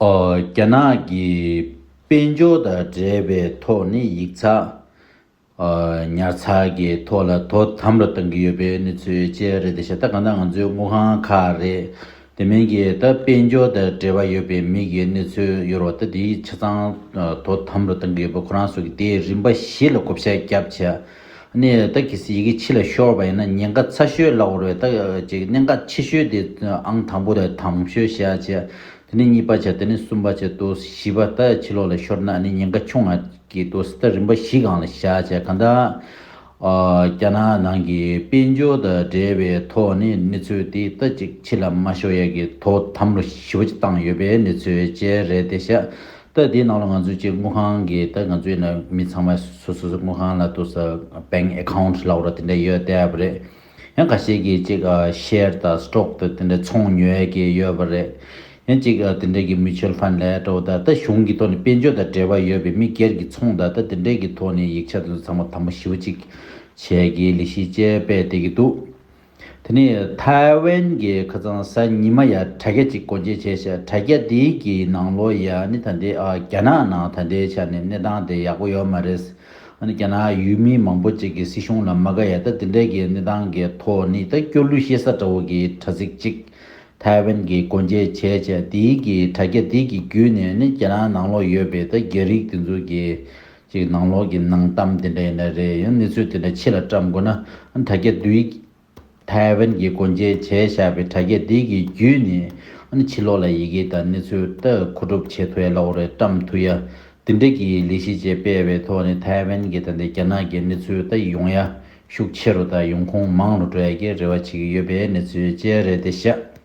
རྒྱ་ནག་གི་དཔལ་འབྱོར་དང་འབྲེལ་བའི་ཐོག་ནས་ཡིག་ཚགས། ཉར་ཚགས་ཀྱི་ཐོག་ལ་དོ་དམ་རུ་གཏང་གི་ཡོད་པའི་གནས་ཚུལ་བཅས་རེད་དེ་བཞིན་ད་ག་ནང་ང་ཚོའི་དངུལ་ཁང་ཁག་རེད། དེ་མིན་གྱི་ད་དཔལ་འབྱོར་དང་འབྲེལ་བ་ཡོད་པའི་མི་གི་གནས་ཚུལ་ཡོད་རོགས་ད་དེའི་ཆ་ཚང་དོ་དམ་རུ་གཏང་གི་ཡོད་པ་ཁོ་རང་སོགས་ཀྱི་དེའི་རིམ་པ་བཞི་ལ་བགོ་བཤའ་རྒྱབ་བྱས། གནས་ཡོད་ད་གིས་ཡི་གེ་ཕྱི་ལ་ཤོར་བ་ཡིན་ན་ཉེན་ཀ་ཚ་ཤོས་ལ་བོར་བས་ད་ཀྱི་གནད་འགག་ཆེ་ཤོས་དེ་ཨང་དང་པོ་ལ་དམ་ཤོད་བྱ་བྱེད་དེ་ནས་གཉིས་པ་བྱེད་དེ་ནས་གསུམ་པ་བྱེད་དུ་བཞི་པ་ད་ཕྱི་ལོག་ལ་ཤོར་ན་ནི་ཉེན་ཀ་ཆུང་ང་གི་དུ་ད་རིམ་པ་བཞི་གང་ལ་བྱ་བྱེད་གང་ད་རྒྱ་ནག་ནང་གི་དཔལ་འབྱོར་ད་འབྲེལ་བའི་ཐོག་ནས་གནས་ཚུལ་དེ་ད་ཅིག་ཕྱི་ལ་མ་ཤོར་ཡ་གི་དོ་དམ་ལོ་བཞི་བ་བཅས་བཏང་ཡོད་པའི་གནས་ཚུལ་བཅས་རེད་དེ་བྱ་ལྟ་དེའི་ནང་ལ་ང་ཚོས་སྤྱིར་དངུལ་ཁང་གི་ལྟ་ང་ཚོའི་ནང་མི་ཚང་མ་སོ་སོ་དངུལ་ཁང་ལ་ཏུ་ས bank account ལ་འོག་ལ་དེ་འདྲ་ཡོད་བསྡད་ཡོད་པ་རེད། ཡང་ག་ཤེད་ཀྱིས་གཅིག share དང stock དང་དེ་འདྲ་ཚོང་ཉོས་ཀྱི་ཡོད་པ་རེད། ཡང་གཅིག་དེ་འདྲ་གི mutual fund ལས་ཏུ་ད་ལྟ་གཞུང་གི་ཐོག་ནས་དཔལ་འབྱོར་དང་འབྲེལ་བ་ཡོད་པའི་མི་སྒེར་གྱི་ཚོང་ད་ལྟ་དེ་འདྲ་གི་ཐོག་ནས་ཡིག་ཆ་དེ་ཚོ་ཚང་མ་དམ་པོ་ཞིབ་ཅིག་བྱས་ཀྱི་ལི་ཤིའི་དཔྱད་དཔལ་བསྟད་ཀྱི་འདུག། དེ་ནི་ཐའེ་ཝན་གྱི་ཁ་རྩང་གཟའ་ཉི་མ་ཡ་དྲ་རྒྱ་གཅིག་སྒོ་འབྱེད་བྱས་ཤག་དྲ་རྒྱ་དེའི་གི་ནང་ལོ་ཡ་ནི་ད་འདི་རྒྱ་ནག་ནང་ད་འདའི་ཆ་ནས་གནས་སྟངས་དེ་ཡག་པོ་ཡོད་མ་རེད། ཨ་ནི་རྒྱ་ནག་ཡུལ་མི་མང་པོ་གཅིག་གི་སྲིད་གཞུང་ལ་མ་དགའ་ཡ་ད་འདི་འདྲ་གི་གནས་སྟངས་གི་ཐོག་ནི་ད་སྐྱོ་གླུ་ཤེས་ས་འདྲ་བོ་གི་དྲ་ཚིགས་གཅིག་ཐའེ་ཝན་གྱི་སྒོ་འབྱེད་བྱས་ཤག་དེའི་གི་དྲ་རྒྱ་དེའི་གི་བརྒྱུད་ནས་ནི་རྒྱ་ནག་ནང་ལོ་ཡོད་པའི་ད་རྒྱ་རིགས་དེ་ཚོ་གི་ཅིག་ནང་ལོག་གི་ནང་གཏམ་དེ་འདྲ་ཡིན་ན་རེད་ཡང་གནས་ཚུལ་དེ་འདྲ་ཕྱི་ལ་བཀྲམ་དགོས་ན་དྲ་རྒྱ་དུས་ཐའེ་ཝན་གྱིས་སྒོ་འབྱེད་བྱས་བཞག་པའི་དྲ་རྒྱ་དེ་གི་བརྒྱུད་ནས་ཕྱི་ལོག་ལ་ཡི་གེ་དང་གནས་ཚུལ་ལྟ་མཁོ་སྒྲུབ་བྱེད་ཐུ་ཡ་ལ་འོ་རེ་བཀྲམ་ཐུ་ཡ་དེ་འདྲ་གི་ལས་གཞི་བཅས་སྤེལ་བའི་ཐོག་ནས་ཐའེ་ཝན་གྱི་དང་དེ་རྒྱ་ནག་གི་གནས་ཚུལ་ལྟ་ཡོང་ཡ་ཤུགས་ཆེ་རུ་དང་ཡོང་ཁུངས་མང་རུ་འགྲོ་ཡ་གི་རེ་བ་བྱེད་ཀྱི་ཡོད་པའི་གནས་ཚུལ་བཅས་རེད་དེ་ཤ།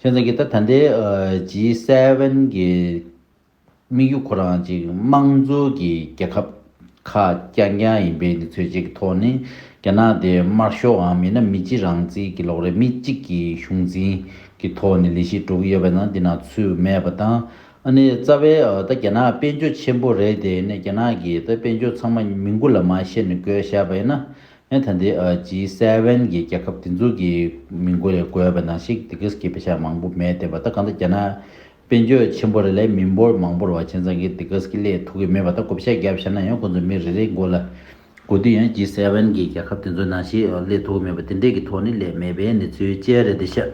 ཁྱེད་རང་གིས་ད་ད་ལྟའི G Seven གྱི་དམིགས་ཡུལ་ཁོ་རང་ཅིག་དམངས་གཙོ་གྱི་རྒྱལ་ཁབ་ཁ་རྐྱང་རྐྱང་ཡིན་པའི་འདི་ཚོད་ཅིག་གི་ཐོག་ནས་རྒྱ་ནག་དེ་དམར་ཤོག་འམ་ཡིན་ན་མི་སྤྱི་རང་བརྩིས་ཀྱི་ལོག་རེ་མི་གཅིག་གི་གཞུང་འཛིན་གྱི་ཐོག་ནས་ལས་གཞི་འགྲོ་གི་ཡོད་པ་ན་འདི་ན་ཚུད་མེད་པ་དང་ཨ་ནི་རྩ་བའི་ད་རྒྱ་ནག་དཔལ་འབྱོར་ཆེན་པོ་རེད་དེ་ནས་རྒྱ་ནག་གི་ད་དཔལ་འབྱོར་ཚང་མ་མི་མགུ་ལ་མ་ཤེས་ནས་དགོས་བཤད་པ་ཡིན་ན་ཡང་ད་ལྟའི G7གྱི་རྒྱལ་ཁབ་འདི་ཚོ་གི་མིང་གོ་ལས་གོ་བ་ནང་ཞིག Diggs གི་དཔེ་ཆ་མང་པོ་མེད་བསྟན་པ་ད་གང་ལྟར་རྒྱ་ནག་དཔེ་མཆོད་ཆེན་པོ་རེ་ལས་མི་འབོར་མང་པོར་བ་ཆེན་ཚང་གི Diggs གི་ལས་ཐུགས་ཀྱི་མེད་པ་ད་གོ་བཤད་རྒྱབ་ཤར་ན་ཡང་ཁོང་ཚོ་མི་རེ་རེའི་མགོ་ལ་གོ་དུས་ཡང G7གི་རྒྱལ་ཁབ་འདི་ཚོ་ནང་ཞིག་ལས་ཐུགས་མེད་པ་དེ་འདྲས་ཀྱི་ཐོག་ནས་ལས་མེད་པའི་གནས་ཚུལ་ཅལ་རེད་འདི་ཤ།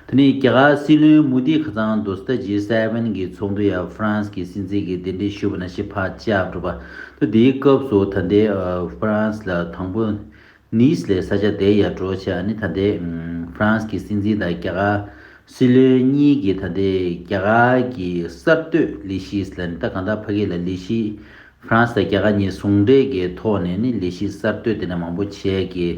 དེ་ནི་རྒྱ་གར་སྲིད་བློན་མུ་དྷིས་ཁ་ཚང་དུ་སྟ་ཇི་སེ་བྷེན་གྱི་ཚོགས་འདུ་ཡང་ཧྥ་རན་སི་གྱི་སྲིད་འཛིན་གྱི་འདི་འདྲིས་ཞུ་བ་ན་ཤི་བྷ་ཅཱ་བསྒྲུབས་པ། དུ་དེའི་སྐབས་སུ་ད་ལྟའི་ཧྥ་རན་སི་ལ་དང་པོ Nice ལས་ས་ཆ་དེའི་ཡར་འབྲོག་ཆེ་ཨ་ནི་ད་ལྟའི་ཧྥ་རན་སི་གྱི་སྲིད་འཛིན་དང་རྒྱ་གར་སྲིད་བློན་གཉིས་ཀྱིས་ད་ལྟའི་རྒྱ་གར་གྱི་གསར་གཏོད་ལི་ཤིས་ལ་ནི་ད་གང་དག་བྷ་གི་ལ་ལི་ཤིས་ཧྥ་རན་སི་དང་རྒྱ་གར་གཉིས་ཟུང་འབྲེལ་གྱི་ཐོག་ནས་ནི་ལས་གཞི་གསར་གཏོད་དེ་འདྲ་མང་པོ་བྱས་ཀྱི།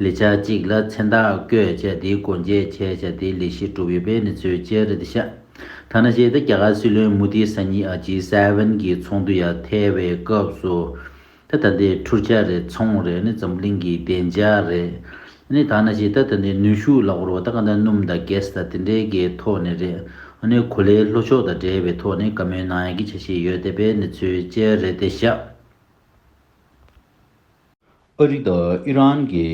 ལས་འཆར་གཅིག་ལ་མཚན་རྟགས་བཀོད་བྱས་དེའི་སྒོ་འབྱེད་བྱས་བྱས་དེའི་ལས་གཞི་གྲུབ་ཡོད་པའི་གནས་ཚུལ་བཅས་རེད་འདི་ཤག་ཐ་ན་གཞས་དེ་རྒྱ་གར་སྲིད་བློན་མུ་དྷིས་ས་གཉིས་ཨ G Seven གྱི་ཚོགས་འདུ་ཡར་ཐེལ་བའི་སྐབས་སུ། ད་ད་འདི་འཁྲུར་ཆ་རེད་ཚོང་རེད་ནི་འཛམ་གླིང་གི་བདེ་འཇགས་རེད། ནི་ད་ནི་ཇི་ལྟར་དེ་འདྲའི་ནུས་ཤུགས་ལ་བོར་བ་དང་གང་འདྲ་སྣུམ་དང་གེས་དང་དེ་འདྲའི་གའི་ཐོག་ནས་རེད། ནི་གོ་ལའི་ལྷོ་ཕྱོགས་དང་འབྲེལ་བའི་ཐོག་ནས་ག་མོའི་ནང་ཡང་གི་ཆ་ཞིག་ཡོད་དེ་པའི་ནི་ཚུལ་དཔྱད་རེད་དེ་ཤག། ཨ་རི་དང་ཨི་རན་གྱི་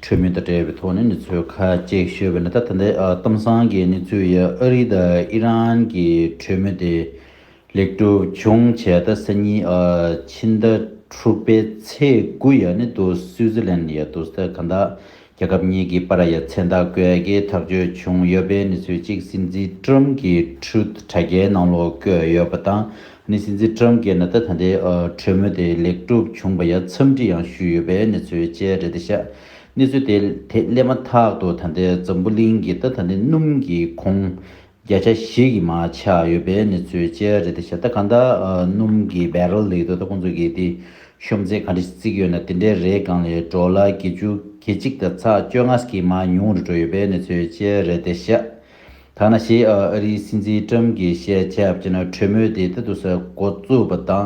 གྲོས་མོལ་དང་འབྲེལ་བའི་ཐོག་ནས་ནི་ཚུལ་ཁ་ཅིག་ཤོད་པའི་ནི་ད་ད་ལྟའི་གཏམ་བཟང་གི་ནི་ཚུལ་ཡིན་ཨ་རི་དང་ཨི་རན་གྱི་གྲོས་མོལ་དེ་ལེགས་གྲུབ་བྱུང་བྱས་ད་ས་གཉིས་ཕྱི་ཟླ་དྲུག་པའི་ཚེས་དགུ་ཡར་ནི་དུ་སུའུ་ཛི་ལན་ཡར་དུ་སྟར་གྷན་དང་རྒྱལ་ཁབ་གཉིས་ཀྱི་པར་ཡ་མཚན་རྟགས་བཀོད་སྒེར་ཐག་གཅོད་བྱུང་ཡོད་པའི་གནས་ཚུལ་གཅིག་སྲིད་འཛིན་ཀྲུམ་གྱི Truth དྲ་རྒྱའི་ནང་ལོག་བཀོད་ཡོད་པ་དང་ནི་སྲིད་འཛིན་ཀྲུམ་གྱི་ནད་བརྟག་ད་ལྟའི་གྲོས་མོལ་དེ་ལེགས་གྲུབ་བྱུང་བ་ཡར་འཚམས་འདྲི་ཡང་ཞུས་ཡོད་པའི་གནས་ཚུལ་བཅས་རེད་ད་ཤག་གནས་ཚུལ་དེ་དེ་སླེབས་མ་ཐག་ཏུ་ད་ལྟའི་འཛམ་བུ་གླིང་གི་ད་ད་ནི་སྣུམ་གྱི་ཁོངས་བརྒྱ་ཆ་བཞི་གི་མ་ཆག་ཡོད་པའི་གནས་ཚུལ་བཅས་རེད་དེ་བཞག་ད་གང་ད་སྣུམ་གི Barrel ལེགས་འདུག་ད་ཁོང་ཚོ་གི་དེ་ཤོམ་རྩེད་ག་འདྲི་བརྩིགས་ཡོད་ན་དེ་འདྲའི་རེས་གང་ལས་འགྲོ་ལ་བརྒྱད་བཅུ་བརྒྱད་གཅིག་ད་ཚགས་བཅོ་ལྔ་གི་མ་ཉུང་རུ་འགྲོ་ཡོད་པའི་གནས་ཚུལ་བཅས་རེད་དེ་བཞག་ད་ན་ཞེས་ཨ་རིའི་སྲིད་འཛིན Trump གི་བཤད་ཁྱབ་ཅེ་ན་གྲོས་མོལ་དེ་ད་དུ་ས་གོ་བཙུགས་པ་དང་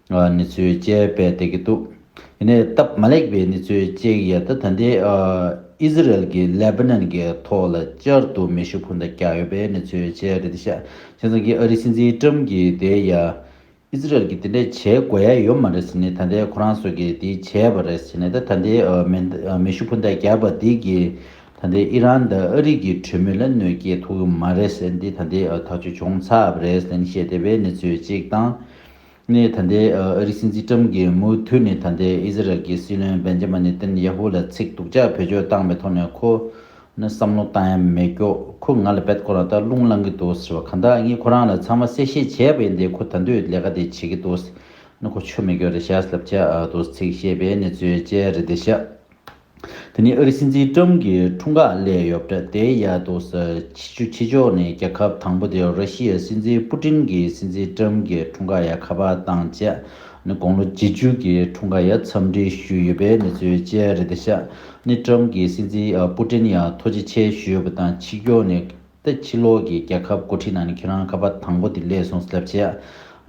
ནི་ཚོད་བཅད་པས་བསྡད་ཀྱི་འདུག་དེ་ནས་སྟབས་མ་ལེགས་པའི་ནི་ཚོད་བཅད་ཀྱི་ཡལ་ད་ད་ལྟའི་ཨི་ཟི་རལ་གྱི་ལེ་བྷ་ནན་གྱི་ཐོག་ལ་བསྐྱར་དུ་མེ་ཤུགས་འཕུར་མདའ་བཀྱགས་ཡོད་པས་ནི་ཚོད་བཅད་རེད་དེ་ཤག་ཆེན་ཚང་གིས་ཨ་རིའི་སྲིད་འཛིན་ཀྲམ་གྱིས་དེ་ཡ་ཨི་ཟི་རལ་གྱིས་དེ་འདྲས་བྱེད་དགོས་ཡ་ཡོད་མ་རེད་ཟེར་ནས་ད་ལྟའི་ཁོ་རང་ཚོ་གིས་དེ་བྱས་པ་རེད་ཟེར་ནས་ད་ད་ལྟའི་མེ་ཤུགས་འཕུར་མདའ་བཀྱགས་པ་དེ་གིས་ད་ལྟའི་ཨི་རན་དང་ཨ་རི་གྱི་གྲོས་མོལ་ལ་གནོད་སྐྱེལ་ཐུབ་ཀྱི་མ་རེད་ཟེར་ནས་དེ་ད་ལྟའི་ཐག་གཅོད་བྱུང་ཚར་བ་རེད་ཟེར་ནས་བཤད་བསྡད་པས་ནི་ཚོད་གཅིག་དང། ནས་ད་ལྟའི་ཨ་རིའི་སྲིད་འཛིན་ཀྲམ་གྱིས་མུ་མཐུད་ནས་ད་ལྟའི་ཨི་ཟི་རལ་གྱི་སྲིད་བློན་བན་ཇེ་མ་ནེ་ཏན་ཡ་ཧུ་ལ་ཚིག་སྡུག་ཅག་བེད་སྤྱོད་བཏང་པའི་ཐོག་ནས་ཁོ་ནི་བསམ་བློ་བཏང་ཡ་མེད་ཀྱོག་ཁོ་ང་ལ་བེད་ཁོ་རང་ད་རླུང་བསླང་གི་འདུག་ཟེར་བ་གང་དག་ངས་ཁོ་རང་ལ་ཚང་མ་གསལ་བཤད་བྱས་པ་ཡིན་ཏེ་ཁོ་ད་འདོད་ལས་ཀ་དེ་བྱེད་ཀྱི་འདུག་ཟེར་ན་ཁོ་ཆོ་མེད་ཀྱོག་རེད་བཞག་ལབ་ཅག་འདུག་ཚིག་བཤད་པའི་ནི་བརྩོད་བཅས་རེད་འདི་བཞག། དེ་ནི་ཨ་རིའི་སྲིད་འཛིན་ཀྲུམ་གྱི་འཁྲུངས་སྐར་གླས་ཡོད། དེའི་ཡ་དུ་ས་ཕྱི་ཆུ་ཕྱི་ཕྱོགས་ནས་རྒྱལ་ཁབ་དང་པོ་དེ་ར་ཤི་ཡའི་སྲིད་འཛིན་པུ་ཏྲིན་གྱིས་སྲིད་འཛིན་ཀྲུམ་གྱི་འཁྲུངས་སྐར་ཡ་ཁ་པར་དང་བཅས་ནས་དགུང་ལོ་བརྒྱད་ཅུ་གྱི་འཁྲུངས་སྐར་ཡ་འཚམས་འདྲི་ཞུས་ཡོད་པའི་གནས་ཚུལ་བཅས་རེད་དེ་ཤ་ནི་ཀྲུམ་གྱིས་སྲིད་འཛིན་པུ་ཏྲིན་ཡ་ཐོ་ཇེ་ཆེ་ཞུས་ཡོད་པ་དང་ཕྱི་ཕྱོགས་ནས་ཏེ་ཕྱི་ལོགས་ཀྱི་རྒྱལ་ཁབ་འགོ་ཁྲིད་ནང་ནས་ཁྱེད་རང་ཁ་པར་དང་པོ་དེ་གླས་སོང་སླབས་བྱས་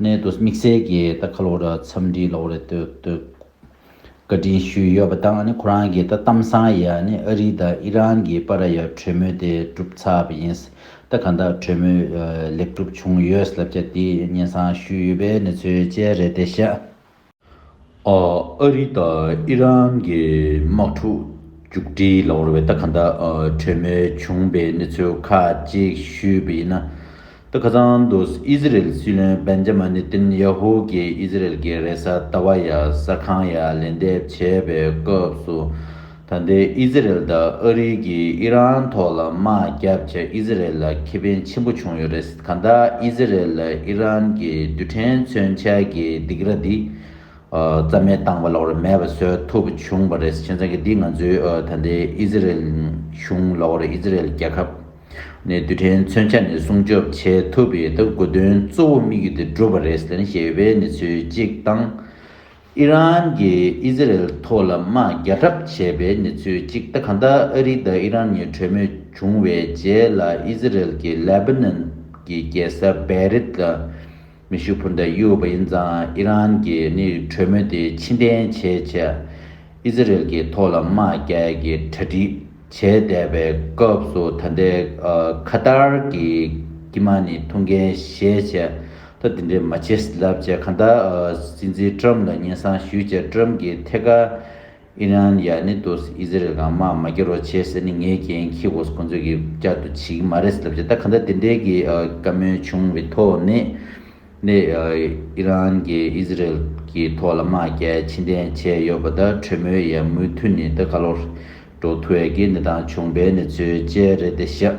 ནས་དུ་དམིགས་བསལ་གྱིས་ད་ཁ་ལོར་འཚམས་འདྲི་ལོ་རེ་དུ་དུ། བཀའ་དྲིན་ཞུས་ཡོད་པ་དང་ཁོ་རང་གིས་ད་གཏམ་བཟང་ཡ་ནི་ཨ་རི་དང་ཨི་རན་གྱི་པ་ར་ཡ་གྲོས་མོལ་དེ་གྲུབ་ཚར་བ་ཡིན། ད་ག་འདྲ་གྲོས་མོལ་ལེགས་གྲུབ་བྱུང་ཡོད་ལབ་ཀྱ་དེ་སྙན་གསང་ཞུས་ཡོད་པའི་གནས་ཚུལ་བཅས་རེད་དེ་ཤ། ཨ་རི་དང་ཨི་རན་གྱི་དམག་འཁྲུག་མཇུག་སྒྲིལ་ལོར་བས་ད་ག་འདྲ་གྲོས་མོལ་བྱུང་བའི་གནས་ཚུལ་ཁག་ཅིག་ཞུས་པ་ཡིན་ན། ཏི་ཁ་ཚང་དུ་ཨི་ཟི་རེལ་སྲིད་བློན་བན་ཇ་མ་ནེ་ཏན་ཡ་ཧུ་གྱིས་ཨི་ཟི་རེལ་གྱི་རེས་གཟའ་ཟླ་བ་ཡར་ས་ཁང་ཡར་ལན་འདེབས་བྱས་པའི་སྐབས་སུ། ད་ལྟའི་ཨི་ཟི་རེལ་དང་ཨ་རི་གིས་ཨི་རན་ཐོག་ལ་དམག་རྒྱག་བྱས་ཨི་ཟི་རེལ་ལ་ཁེ་ཕན་ཆེན་པོ་བྱུང་ཡོད་རེད་གང་ལྟར་ཨི་ཟི་རེལ་ལ་ཨི་རན་གྱི་རྡུལ་ཕྲན་མཚོན་ཆ་གྱི་སྡིགས་ར་འདི་རྩ་མེད་བཏང་བ་ལོགས་རེད་མེད་པ་བཟོས་ཐུབ་བྱུང་བ་རེད་ཁྱེད་རང་གིས་འདི་ང་ཚོའི་ད་ལྟའི་ཨི་ཟི་རེལ་གཞུང་ལོགས་རེད་ཨི་ཟི་རེལ་རྒྱལ་ཁབ། ནས་རྡུལ་ཕྲན་མཚོན་ཆ་ནས་སྲུང་སྐྱོབ་བྱེད་ཐུབ་པའི་སྟབས་དགོས་དོན་གཙོ་བོ་དམིགས་ཡུལ་དེ་བསྒྲུབས་པ་རེད་ཟེར་ནས་ཞེས་པའི་གནས་ཚུལ་གཅིག་དང། ཨི་རན་གྱིས་ཨི་ཟི་རལ་ཐོག་ལ་དམག་རྒྱག་གྲབས་བྱས་པའི་གནས་ཚུལ་གཅིག་སྟེ་གང་ལྟར་ཨ་རི་དང་ཨི་རན་གཉིས་གྲོས་མོལ་བྱུང་བའི་རྗེས་ལ་ཨི་ཟི་རལ་གྱིས་ལེ་བྷ་ནན་གྱི་རྒྱལ་ས་བེ་རིད་ལ་མེ་ཤུགས་འཕུར་མདའ་གཡུག་ཡོད་པ་ཡིན་ཙང་ཨི་རན་གྱིས་ནི་གྲོས་མོལ་དེ་ཕྱི་འཐེན་བྱེད་ཆེད་ཨི་ཛི་རེལ་གྱི་ཐོག་ལ་དམག་རྒྱལ་གྱི་གྲ་སྒྲིག་བྱས་བསྡད་པའི་སྐབས་སུ་ད་ལྟའི་ཁ་ཏར་གྱི་དཀྱིལ་མ་ནི་ཐུགས་འགན་བཞེས་ཆེད་ད་དེ་འདྲའི་མ་བྱས་ལབ་ཅེས་གང་ལྟར་སྲིད་འཛིན་ཀྲམ་ལ་སྙན་གསང་ཞུས་རྗེས་ཀྲམ་གྱིས་ཐད་ཀར་ཨི་རན་ཡ་ནི་ཏོས་ཨི་ཟི་རེལ་གང་དམག་མ་རྒྱ་རོགས་བྱེད་ཟེར་ནི་ངའི་རྒྱན་ཁྱི་གོ་ས་ཁོང་ཚོས་གི་བསྐྱར་དུ་བྱེད་གི་མ་རེད་ཟེར་ལབ་བྱས་ད་ག་འདྲ་དེ་འདྲའི་གི་བཀའ་མོལ་བྱུང་བའི་ཐོག་ནས་ནི་ཨི་རན་གི་ཨི་ཟི་རེལ་གི་ཐོག་ལ་དམག་རྒྱ་ཕྱི་འདྲེན་བྱས་ཡོད་པ་ད་གྲོས་མོལ་ཡ་མུ་འཐུད་ནི་ད་ག་ལོར་འགྲོ་ཐུ་ཡ་གི་གནས་སྟངས་བྱུང་བའི་ནི་ཚོའི་དཔྱད་རེད་དེ་ཤ།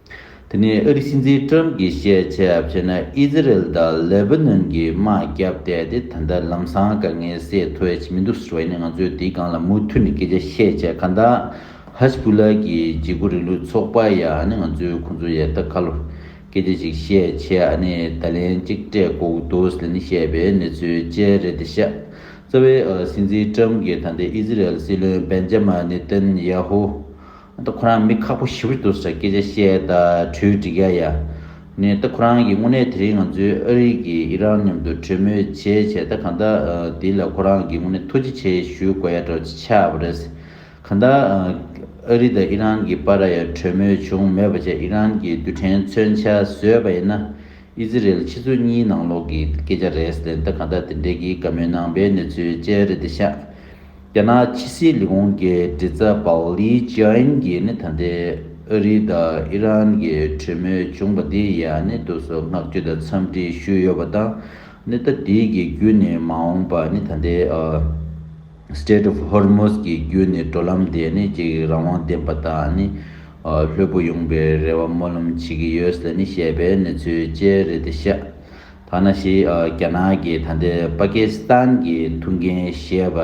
དེ་ནས་ཨི་རི་སྲིད་འཛིན་ཀྲོམ་གྱིས་བཤད་ཆ་ཕྱེས་ན་ཨི་ཛི་རེལ་དང་ལེ་བྷི་ནོན་གྱི་དམག་རྒྱབ་བསྡད་དེ་ད་ལྟ་ལམ་སང་དཀའ་ངལ་སེལ་ཐུབ་ཡ་ཆེ་མི་འདུག་ཟེར་བ་ཡིན་ན་ང་ཚོས་དེའི་སྒང་ལ་མུ་མཐུད་ནས་སྐད་ཆ་བཤད་ཆ་ག་འདའ། ཧཱས་བྷུ་ལ་གྱི་བརྗེ་སྒུར་རིང་ལུགས་ཚོགས་པ་ཡ་ནི་ང་ཚོས་ཁོང་ཚོ་ཡ་ད་ག་ལོ་སྐད་ཆ་ཞིག་བཤད་ཆ་ཡ་ནི་ད་ལན་གཅིག་སྤྲད་དགོ་གི་འདུག་ཟེར་ནས་བཤད་པའི་གནས་ཚུལ་བཅས་རེད་དེ་ཤ་ཚ་བའི་ཨི་རི་སྲིད་འཛིན་ཀྲོམ་གྱིས་ད་ལྟའི་ཨི་ཛི་རེལ་སྲིད་བློན་བེན་ཇ་མ་ནི་ཏན་ཡ་ཧུ། ད་ཁོ་རང་མི་ཁག་པོ་ཞིབ་རེ་འདུག་ས་སྐད་ཆ་བཤད་ད་གྲོས་འགྲིག་ཡ་ཡ། ནས་ད་ཁོ་རང་གི་དངོས་གནས་དེ་རིང་ང་ཚོའི་ཨ་རིག་གི་ཨི་རང་མཉམ་དུ་གྲོས་མོལ་བྱས་བྱས་ད་གང་ད་དེ་ལ་ཁོ་རང་གི་དངོས་གནས་ཐུགས་རྗེ་ཆེ་ཞུ་དགོས་ཡ་འདྲ་བ་ཆགས་པ་རེད། གང་ད་ཨ་རི་ད་ཨི་རང་གི་བར་ར་ཡ་གྲོས་མོལ་བྱུང་མོད་པ་ཆ་ཨི་རང་གི་རྡུལ་ཕྲན་མཚོན་ཆ་བཟོས་པ་ཡིན་ན་ཨི་ཛི་རེལ་ཕྱི་ཚུལ་གཉིས་ནང་ལོག་གི་སྐད་ཆ་རེད་ལན་ད་གང་ད་དེ་འདྲས་གི་དགའ་མོས་ནང་པའི་གནས་ཚུལ་བཅས་རེད་ད་ཤག་རྒྱ་ནག་ཕྱི་སྲིད་ལས་ཁུངས་ཀྱི་མགྲིན་ཚབ་པའོ་ལི་ཅིའོ་ཨིན་གྱིས་ནི་ད་ལྟའི་ཨ་རི་དང་ཨི་རན་གྱི་གྲོས་མོལ་བྱུང་བ་དེ་ཡིས་ནི་བསྡུར་གསོལ་བསྔགས་བརྗོད་དང་འཚམས་འདྲི་ཞུས་ཡོད་པ་དང་ནི་ད་ལྟའི་གི་རྒྱུ་ནི་མ་འོངས་པར་ནི་ད་ལྟའི Strait of Hormuz གྱི་རྒྱུ་ནི་འགྲོ་ལམ་དེ་ནི་གཅིག་རང་དབང་ལྡན་པ་དང་ནི་ལྷོད་པོ་ཡོང་པའི་རེ་བ་སྨོན་ལམ་བྱེད་ཀྱི་ཡོད་ལ་ནི་ཞེས་པའི་གནས་ཚུལ་བཅས་རེད་དེ་ཤ་ཐ་ན་ཞི་རྒྱ་ནག་གི་ད་ལྟའི་པ་ཀི་སི་ཐན་གྱི་ཐུགས་འགན་བཞེས་པ་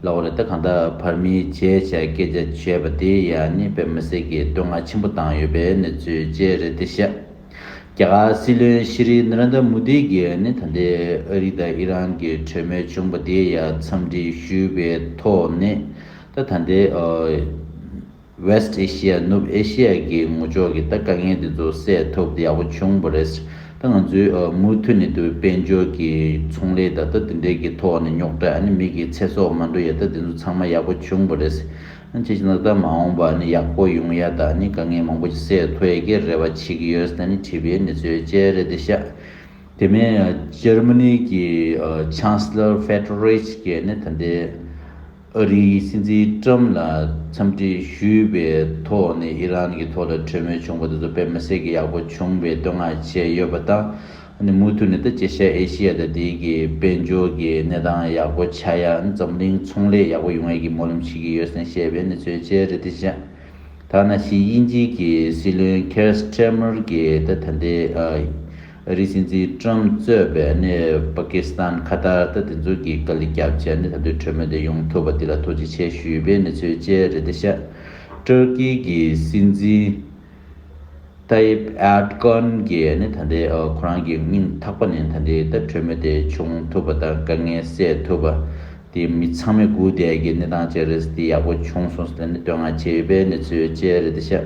ལ་འོ་རེ་ད་གང་དག་བར་མི་བྱེད་བྱ་སྐད་ཆ་བྱས་པ་དེ་ཡ་ནི་བོད་མི་སེར་གྱི་བསྟོད་བསྔགས་ཆེན་པོ་བཏང་ཡོད་པའི་གནས་ཚུལ་བཅས་རེད་དེ་ཤག་རྒྱ་གར་སྲིད་བློན་ཤི་རི་ན་ར་ནྡ་མུ་དྷི་གིས་ནི་ད་ལྟའི་ཨ་རི་དང་ཨི་རན་གྱི་གྲོས་མོལ་བྱུང་པ་དེ་ཡ་འཚམས་འདྲི་ཞུས་པའི་ཐོག་ནས་ད་ད་ལྟའི། West Asia ནུབ་ཨེ་ཤེ་ཡ་གི་ངོ་ལྕོག་གི་ད་དཀའ་ངལ་དེ་ཚོ་སེལ་ཐུབ་ཡག་པོ་བྱུང་བ་རེད། ད་ང་ཚོའི་མུ་མཐུད་ནས་དེ་བས་དཔལ་འབྱོར་གྱི་ཚོང་ལས་ད་ལྟ་དེ་འདྲའི་གི་ཐོག་ནས་རྙོག་དྲ་ནི་མིག་གི་ཚེ་སྲོག་མ་འགྲོ་ཡ་ད་དེ་ཚོ་ཚང་མ་ཡག་པོ་བྱུང་བ་རེད། ཅེས་ཀྱི་ནག་ད་མ་འོངས་པ་ནི་ཡག་པོ་ཡོང་ཡ་ད་ནི་དཀའ་ངལ་མང་པོ་ཞིག་སེལ་ཐུབ་ཡ་གི་རེ་བ་བྱེད་གི་ཡོད་ད་ནི་བྲིས་པའི་གནས་ཚུལ་བཅས་རེད་དེ་ཤ་དེ་མིན Germany གི Chancellor Friedrich གྱིས་ནི་ད་ལྟའི་ཨ་རིའི་སྲིད་འཛིན་ཀྲམ་ལ་འཚམས་འདྲི་ཞུས་པའི་ཐོག་ནས་ཨི་རན་གྱི་ཐོག་ལ་གྲོས་མོལ་བྱུང་བ་དེ་ཚོ་དཔེ་མི་སྲིད་ཀྱི་ཡག་པོ་བྱུང་བའི་བསྟོད་བསྔགས་བྱས་ཡོད་པ་དང། མུ་མཐུད་ནས་ད་ཅི་ཤེས་ཨེ་ཤི་ཡ་ད་དེ་གི་དཔལ་འབྱོར་གྱི་གནས་སྟངས་ཡག་པོ་ཆགས་ཡ་འཛམ་གླིང་ཚོང་ལས་ཡག་པོ་ཡོང་ཡ་གི་སྨོན་ལམ་བྱེད་ཀྱི་ཡོད་སེང་བཤད་པའི་གནས་ཚུལ་བཅས་རེད་དེ་བཞིན་ཐ་ན་ཤི་དབྱིན་ཇིའི་གི་སྲིད་བློན་ཁེར་སྤྲེ་མར་གྱི་ད་ད་ལྟའི་ཨ་རིགས་སྲིད་འཛིན་ཀྲུམ་གཙོས་པའི་གནས་པ་ཀི་སི་ཐན་ཁ་ཐར་ལྟ་དེ་ཚོ་གི་དཀའ་ལས་རྒྱབ་བྱས་ནས་ད་དུས་གྲོས་མོལ་དེ་ཡོང་ཐུབ་པ་དེ་ལ་ཐུགས་རྗེ་ཆེ་ཞུས་པའི་གནས་ཚུལ་བཅས་རེད་དེ་ཤ་ཏུར་ཀི་གི་སྲིད་འཛིན་ཏཱ་ཡིབ་ཨེར་ཀོན་གྱིས་ནི་ད་ལྟའི་ཁོ་རང་གི་སྙིང་ཐག་པ་ནས་ད་ལྟའི་ལྟ་གྲོས་མོལ་དེ་བྱུང་ཐུབ་པ་དང་དཀའ་ངལ་སེལ་ཐུབ་པ་དེ་མི་ཚང་མས་སྒུག་བསྡད་ཀྱི་གནས་སྟངས་བཅས་རེད་དེ་ཡག་པོ་བྱུང་སོང་ཟེར་ནས་བསྟོད་བསྔགས་བྱས་ཡོད་པའི་གནས་ཚུལ་བཅས་རེད་དེ་ཤ།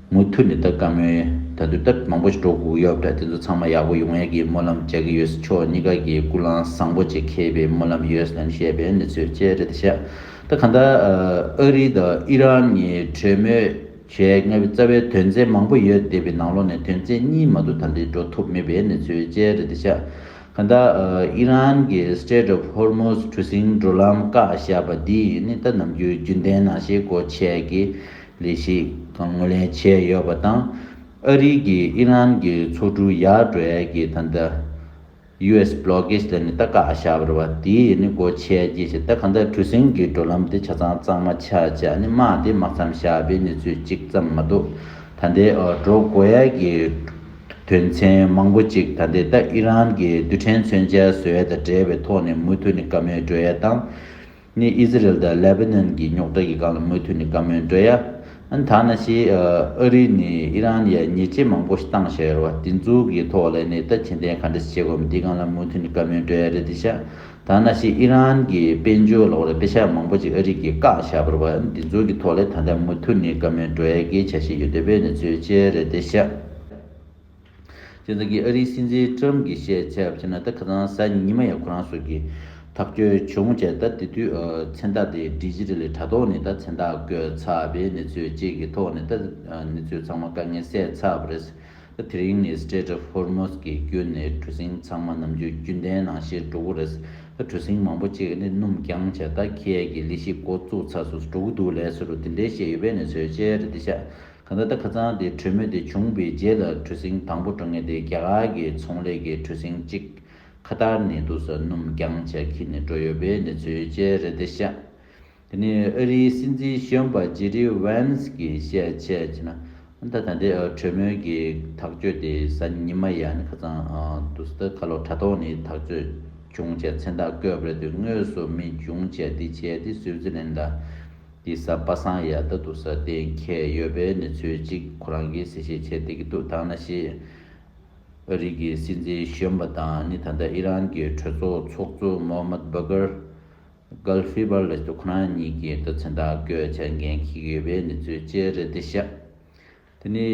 མུ་མཐུད་ནས་ད་ག་མོའི་ད་དུས་ད་མང་པོ་ཞིག་འགྲོ་དགོས་ཀྱི་ཡོད་འདྲ་དེ་ཚོ་ཚང་མ་ཡག་པོ་ཡོང་ཡག་གི་སྨོན་ལམ་རྒྱག་གི་ཡོད་ཕྱོགས་གཉིས་ཀ་གི་སྐུ་ལང་བཟང་པོ་བཅས་ཁེལ་པའི་སྨོན་ལམ་ཡོད་ལན་བཤད་པའི་གནས་ཚུལ་བཅས་རེད་ཤག་ད་ག་ད་ཨ་རི་དང་ཨི་རན་གཉིས་གྲོས་མོལ་བྱས་ང་བའི་རྩ་བའི་དོན་ཚན་མང་པོ་ཡོད་དེ་བའི་ནང་ལོག་ནས་དོན་ཚན་གཉིས་མ་ཏུ་ད་འདི་འགྲོ་ཐུབ་མེད་པའི་གནས་ཚུལ་བཅས་རེད་ཤག་ག་ད་ཨི་རན་གྱི Strait of Hormuz གྲུ་གཟིངས་འགྲོ་ལམ་བཀག་བཞག་པ་འདི་ཡིན་ད་ནམ་རྒྱུན་རྒྱུན་ལྡན་ནང་བཞིན་སྒོ་ཕྱེ་གི་ལས་གཞི་གང་ངོས་ལེན་བྱས་ཡོད་པ་དང། ཨ་རིའི་གིས་ཨི་རན་གྱི་མཚོ་གྲུ་ཡར་སྒྲོལ་གྱི་ད་ལྟ US Blockade ལས་ནི་རྟ་ཁག་བཞག་པར་བ་དེས་ནི་སྒོ་ཕྱེ་རྒྱུ་བྱས་ད་གང་ལྟར་གྲུ་གཟིངས་ཀྱི་འགྲོ་ལམ་དེ་ཆ་ཚང་གཙང་མ་ཆགས་ཅག་ནི་དམག་དེ་དམག་མཚམས་བཞག་པའི་གནས་ཚུལ་གཅིག་ཙམ་མ་གཏོགས་ད་ལྟའི་འགྲོ་སྒོ་ཡར་གྱི་དོན་ཚན་མང་པོ་གཅིག་ད་ལྟའི་ད་ཨི་རན་གྱི་རྡུལ་ཕྲན་མཚོན་ཆའི་ཟོལ་དང་འབྲེལ་བའི་ཐོག་ནས་མུ་མཐུད་ནས་བཀའ་མོལ་སྒྲོལ་ཡ་དང། ངས་ཨི་ཟི་རེལ་དང་ལེ་བྷེ་ནན་གྱི་རྙོག་དྲ་གི་སྒང་ལ་མུ་མཐུད་ནས་བཀའ་མོལ་འགྲོ་ཡ། ཨ་ནི་ད་ན་ཞེས་ཨ་རི་ནས་ཨི་རན་ཡར་ཉེས་ཆད་མང་པོ་ཞིག་བཏང་ཞེས་ཟེར་བ་དེ་ཚོ་གི་ཐོག་ལ་ནས་ད་གྱེན་ལྡན་ག་འདྲ་ཞིག་བྱེད་དགོས་མིན་དེའི་སྒང་ལ་མུ་མཐུད་ནས་བཀའ་མོལ་འགྲོ་ཡ་རེད་དེ་ཤ་ད་ན་ཞེས་ཨི་རན་གྱི་དཔལ་འབྱོར་ལོག་རེད་དཔེ་ཆ་མང་པོ་ཞིག་ཨ་རི་གིས་བཀག་བཞག་པར་བ་ཨ་ནི་དེ་ཚོ་གི་ཐོག་ལ་ད་ལྟ་མུ་མཐུད་ནས་བཀའ་མོལ་འགྲོ་ཡ་གི་བྱ་བཞིན་ཡོད་དེ་བས་ནས་ཚོས་བྱས་རེད་དེ་ཤ། སྤྱིར་བདག་གིས་ཨ་རིའི་སྲིད་འཛིན Trump གྱི་བཤད་ཚད་བརྒྱབ་ན་ད་ག་ཚང་ཟ་ཉི་མ་ཡང་ཁོ་རང་སོགས་ཀྱི་ཐག་གཅོད་བྱུང་བྱས་ད་དེ་དུས་མཚན་རྟགས་དེ་འབྲི་གཞི་རེ་ལས་དྲ་ཐོག་ནས་ད་མཚན་རྟགས་བཀོད་ཚར་བས་གནས་ཚུལ་བཅས་ཀྱི་ཐོག་ནས་ད་གནས་ཚུལ་ཚང་མ་དཀའ་ངལ་སེལ་ཚར་བ་རེད། ད་དེ་རིང་ནས Strait of Hormuz གྱི་བརྒྱུད་ནས་གྲུ་གཟིངས་ཚང་མ་ནམ་རྒྱུན་རྒྱུན་ལྡན་ནང་བཞིན་འགྲོ་གི་རེད། ད་གྲུ་གཟིངས་མང་པོ་གཅིག་གནས་སྣུམ་རྐྱང་བྱས་ད་ཁྱེད་ཀྱི་ལས་གཞི་འགོ་བཙུགས་ཚར་སོ་སོ་འགྲོ་གི་འདུག་ལས་བཟོ་རུ་དེ་འདྲའི་བཤད་ཡོད་པས་གནས་ཚུལ་བཅས་རེ་འདི་བཤད། ག་ད་ལྟ་ཁ་ཚང་དེ་གྲོས་མོལ་དེ་བྱུང་པའི་རྗེས་ལ་གྲུ་གཟིངས་དང་པོ་འགྲོ་ངེས་ཏེ་རྒྱ་གར་གྱི་ཚོང་ལས་ཀྱི་གྲུ་གཟིངས་གཅིག་ཁ་ཐར་ནས་འདུག་ཟ་སྣུམ་རྐྱང་ཆ་འཁྱིལ་ནས་འགྲོ་ཡོད་པའི་གནས་ཚུལ་བཅས་རེད་དེ་བཤད། དེ་ནི་ཨ་རིའི་སྲིད་འཛིན་གཞོན་པ་ཇེ་རི་ཝན་སི་གིས་བཤད་ཆེད་ཅེ་ན། ད་ལྟ་ད་ལྟའི་གྲོས་མོལ་གྱི་ཐག་གཅོད་དེ་གཟའ་ཉི་མ་ཡ་ནི་ཁ་ཚང་དུ་སི་ཏཱ་གྷ་ལོ་དྲ་ཐོག་ནས་ཐག་གཅོད་བྱུང་ཆེད་མཚན་རྟགས་བཀོད་པ་རེད་དུས་དངོས་སུ་མི་འབྱུང་ཆེད་འདི་བྱས་ཏེ་སུའུ་ཙི་ལན་ལ་དེ་ཟ་པ་སངས་ཡ་ད་དུ་ཟ་ཏེ་མཁས་ཡོད་པའི་ནི་ཚོད་གཅིག་ཁོ་རང་གིས་ཟེ་ཤེས་བྱེད་དེ་གི་འདུག་ཐང་ན་ཤེས། ཨ་རིག་གི་སྲིད་འཛིན་གཞོན་པ་དང་ནི་ད་ལྟ་ཨི་རན་གི་གྲོས་ཚོགས་ཚོགས་གཙོ་མོ་མད་བྷ་གྷར། Gulf Fever། ལ་ཞུ་ཁོ་རང་གཉིས་ཀྱི་ལྟ་ཚུལ་དག་བཀོད་བྱ་འགན་འཁྱིག་ཡོད་པའི་ནི་ཚོད་ཅེ་རེད་དེ་ཤ། དེ་ནི་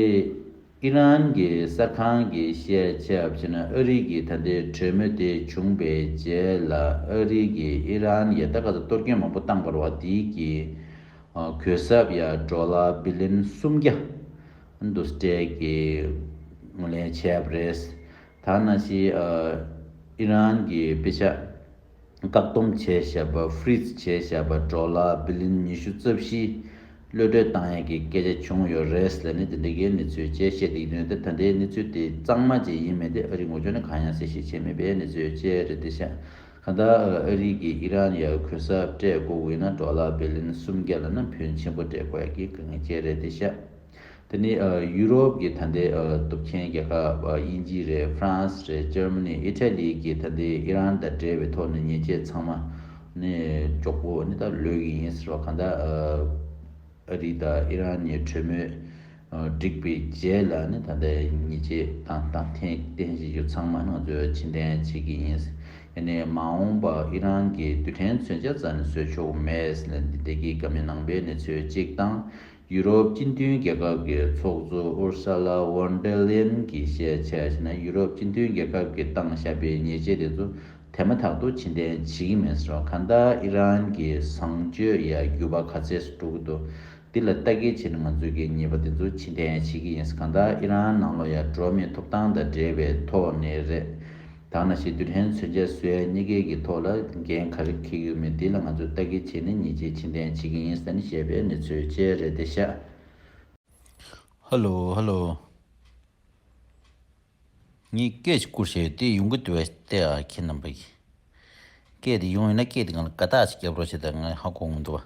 ཨི་རན་གྱི་གསར་ཁང་གིས་བཤད་ཆ་བཞིན་ཨ་རི་གྱི་ད་ལྟའི་གྲོས་མོལ་དེ་བྱུང་པའི་རྗེས་ལ་ཨ་རི་གིས་ཨི་རན་ཡ་ད་ག་ཚོད་གཏོར་སྐྱོན་མང་པོ་བཏང་བར་བ་དིའི་གྱི་གུད་སབ་ཡ་གྲོ་ལ་བི་ལིན་སུམ་བརྒྱ་འདུ་སྤྲད་ཀྱི་ངོས་ལེན་བྱས་པ་རེད། ད་ནང་བཞིན་ཨི་རན་གྱི་དཔེ་ཆ། བཀག་སྡོམ་བྱས་བྱས་པ Freeze བྱས་བྱས་པ་འགྲོ་ལ་བི་ལིན་ཉི་ཤུ་རྩ་བཞིའི་གློད་གྲོལ་བཏང་ཡས་ཀྱི་སྐད་ཆ་བྱུང་ཡོད་རེད་ཟེར་ནས་དེ་འདི་གའི་གནས་ཚུལ་བཅས་བཤད་སྡིག་དོན་དེ་ད་ལྟའི་གནས་ཚུལ་དེ་གཙང་མ་ཅིག་ཡིན་མེད་དེ་ཨ་རིའི་ངོ་ཅོག་ནས་གང་ཡང་གསལ་བཤད་བྱས་མེད་པའི་གནས་ཚུལ་བཅས་རེད་དེ་ཤ་ག་ད་ཨ་རིའི་ཀྱི་ཨི་རན་ཡ་གུ་གསབ་སྤྲད་དགོས་དབུས་ན་འགྲོ་ལ་བི་ལིན་སུམ་བརྒྱ་ལ་ན་བུན་ཆེན་པོ་སྤྲད་དགོས་ཡ་ཀྱི་དགའ་ངེས་བཅས་རེད་དེ་ཤ། དེ་ནི་ཡུ་རོབ་ཀྱི་ད་ལྟའི་གཏུབ་མཁན་རྒྱལ་ཁབ་དབྱིན་ཇི་རེད་ཧྥ་རན་སི་རེད་ཇར་མ་ནི་ཨི་ཏྲ་ལི་ཀྱི་ད་ལྟའི་ཨི་རན་དང་འབྲེལ་བའི་ཐོག་ནས་ཉེས་ཆད་ཚང་མ་ནི་གཅོག་པོ་ནི་ད་ལོས་ཀྱི་ཡིན་ཟེར་བ་གང་ལྟར་ཨ་རི་དང་ཨི་རན་གཉིས་གྲོས་མོལ་བསྒྲིགས་པའི་རྗེས་ལ་ནི་ད་ལྟའི་ཉེས་ཆད་དང་དང་ཐེངས་བརྟན་བཞེས་རྒྱུ་ཚང་མ་ནི་ང་ཚོས་ཕྱིར་འཐེན་བྱེད་ཀྱི་ཡིན་ཡང་ནི་མ་འོངས་པར་ཨི་རན་གྱིས་རྡུལ་ཕྲན་མཚོན་ཆ་རྩ་ནས་བཟོས་ཆོག་མེད་ཟེར་ན་འདི་ད་གིས་ཀ་མེད་ནང་པའི་གནས་ཚུལ་གཅིག་དང་ཡུ་རོབ་སྤྱི་མཐུན་རྒྱལ་ཁབ་ཀྱི་ཚོགས་གཙོ Ursula Von der Leyen གྱིས་བཤད་ཆ་བྱས་ན་ཡུ་རོབ་སྤྱི་མཐུན་རྒྱལ་ཁབ་ཀྱི་སྟངས་ཞབས་པའི་ཉེས་ཆད་དེ་ཚོ་དེ་མ་ཐག་ཏུ་ཕྱིན་འཐེན་བྱེད་ཀྱི་མིན་ཟེར་བ་གང་ལྟར་ཨི་རན་གྱི་བཟང་སྤྱོད་ཡ་རྒྱུ་བ་ག་ཚད་སུ་འགྲོ་གི་འདུག་འདི་ལ་ལྟ་སྐྱེལ་བྱས་ན་ང་ཚོས་གད་ཉེས་པ་དེ་ཚོ་ཕྱིན་འཐེན་བྱེད་ཀྱི་ཡིན་གང་ལྟར་ཨི་རན་ནང་ལོགས་ཡར་འགྲོ་མིའི་ཐོབ་ཐང་དང་འབྲེལ་བའི་ཐོག་ནས་རེད། ཐ་ན་ཞི་དུལ་ཧན་མཚོན་ཆ་བཟོས་ཡ་གཉིས་ཀའི་གི་ཐོག་ལ་འགན་ག་རེ་འཁེལ་ཡོད་མེད་འདི་ལ་ང་ཚོས་བལྟ་གི་བྱས་ནས་ཉེས་ཆད་ཕྱིན་ལྡན་བྱེད་གི་ཡིན་ཟེར་ནས་བཤད་པའི་གནས་ཚུལ་བཅས་རེད་དེ་ཤ་ཧ་ལོ་ཧ་ལོ། ངས་སྐད་ཅིག་བསྐུར་བྱས་ཡོད་དེ་ཡོང་གི་འདུག་བས་ཏེ་ཨ་ཁྱེད་རྣམ་པས། སྐད་དེ་ཡོང་ཡོད་ན་སྐད་དེ་གང་ལ་ཀ་དག་ཅིག་བརྒྱབ་རོགས་བྱས་ཏེ་ང་ཧ་གོ་ངོ་འདུག་བ།